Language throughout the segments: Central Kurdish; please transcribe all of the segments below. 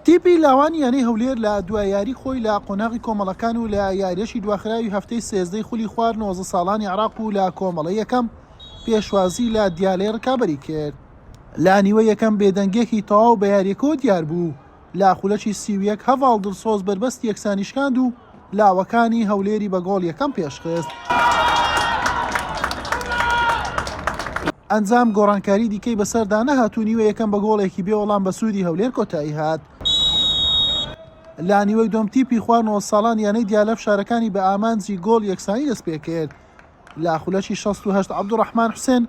تیپی لاوانی یانەی هەولێر لە دوا یاری خۆی لە قۆناغی کۆمەڵەکان و لە یاریەکی دواخراوی هەفتەی سێزدەی خولی خوار نۆزە ساڵانی عراق و لە کۆمەڵە یەکەم پێشوازی لە دیالەی ڕکابەری کرد لە نیوە یەکەم بێدەنگێکی تەواو بە یاریەکەوە دیار بوو لە خولەکی سی و یەک هەڤاڵ دڵسۆز بەربەستی یەکسانی شکاند و لاوەکانی هەولێری بە گۆڵ یەکەم پێشخست. ئەنجام گۆڕانکاری دیکەی بەسەردا نەهات و نیوە یەکەم بە گۆڵێکی بێ وەڵام بە سوودی هەولێر کۆتایی هات. لە نیوەی دووەم تیپی خوار نۆزساڵان یانەی دیالە فشارەکانی بە ئامانجی گۆڵ یەکسانی دەستپێکرد. لە خولەکی شەست و هەشت عەبدولڕەحمان حوسێن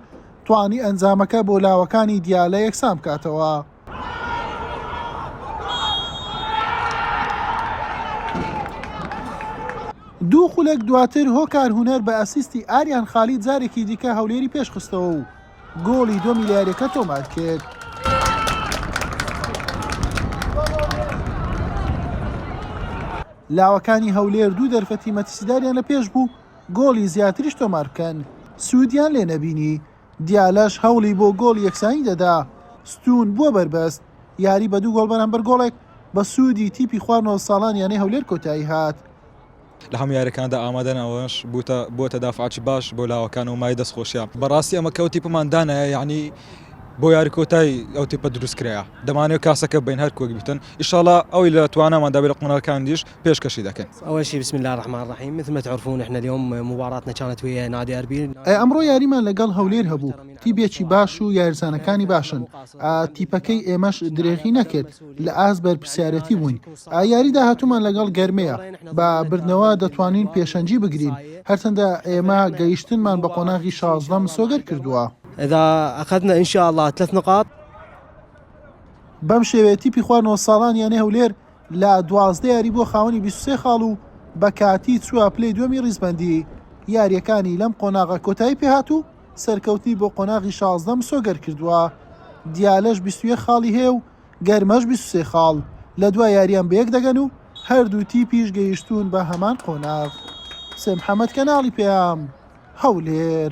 توانی ئەنجامەکە بۆ لاوەکانی دیالە یەکسان بکاتەوە. دوو خولەک دواتر هۆکار هونەر بە ئەسیستی ئاریان خالید جارێکی دیکە هەولێری پێشخستەوە و گۆڵی دۆمی لە یاریەکە تۆمار کرد. لاوەکانی هەولێر دوو دەرفەتی مەترسیداریان لە پێش بوو گۆڵی زیاتریش تۆمار بکەن، سوودیان لێ نەبینی، دیالەش هەوڵی بۆ گۆڵی یەکسانی دەدا، ستوون بووە بەربەست، یاری بە دوو گۆڵ بەرامبەر گۆڵێک بە سوودی تیپی خوار نۆ ساڵان یانەی هەولێر کۆتایی هات. لە هەموو یاریەکاندا ئامادەن ئەوەش بووتە دافعێکی باش بۆ لاوەکان و مایەی دەستخۆشیە. بەڕاستی ئەمە کە ئەو تیپەمان دانایە یانی بۆ یاری کۆتایی ئەو تیپە دروست کرایە، دەمانەوێت کاسەکە بین هەر وەک گوتن، ئیشاڵا ئەوەی لە تواناماندا بێت لە قۆناغەکانی دیش، پێشکەشی دەکەن. اول شی بسم اللە الرحمن الرحیم مثل ما تعرفون احنا اليوم مباراتنا کانت ویا نادی اربیل. ئە ئەمڕۆ یاریمان لە گەڵ هەولێر هەبوو تیبێکی باش و یارزانەکانی باشن ئە تیپەکەی ئێمەش درێغی نەکرد لە ئاست بەرپسیارەتی بووین ئە یاری داهاتوومان لە گەڵ گەرمەیە بە بردنەوە دەتوانین پێشەنگی بگرین هەرچەندە ئێمە گەیشتنمان بە قۆناغی شازدە مسۆگەر کردووە. اذا اخذنا ان شاء اللە تلات نقاط. بەم شێوەیە تیپی خوار نۆ ساڵان یانەی هەولێر، لە دوازدە یاری بووە خاوەنی بیست و سێ خاڵ و بە کاتی چووە پلەی دووەمی ریزبەندیی یارییەکانی لەم قۆناغە کۆتایی پێهات و سەرکەوتنی بۆ قۆناغی شازدە مسۆگەر کردووە. دیالەش بیست و یەک خاڵی هەیە و گەرمەش بیست و سێ خاڵ، لە دوا یارییان بەیەک دەگەن و هەردوو تیپیش گەیشتوون بە هەمان قۆناغ. حوسێن محەمەد، کەناڵی پەیام، هەولێر.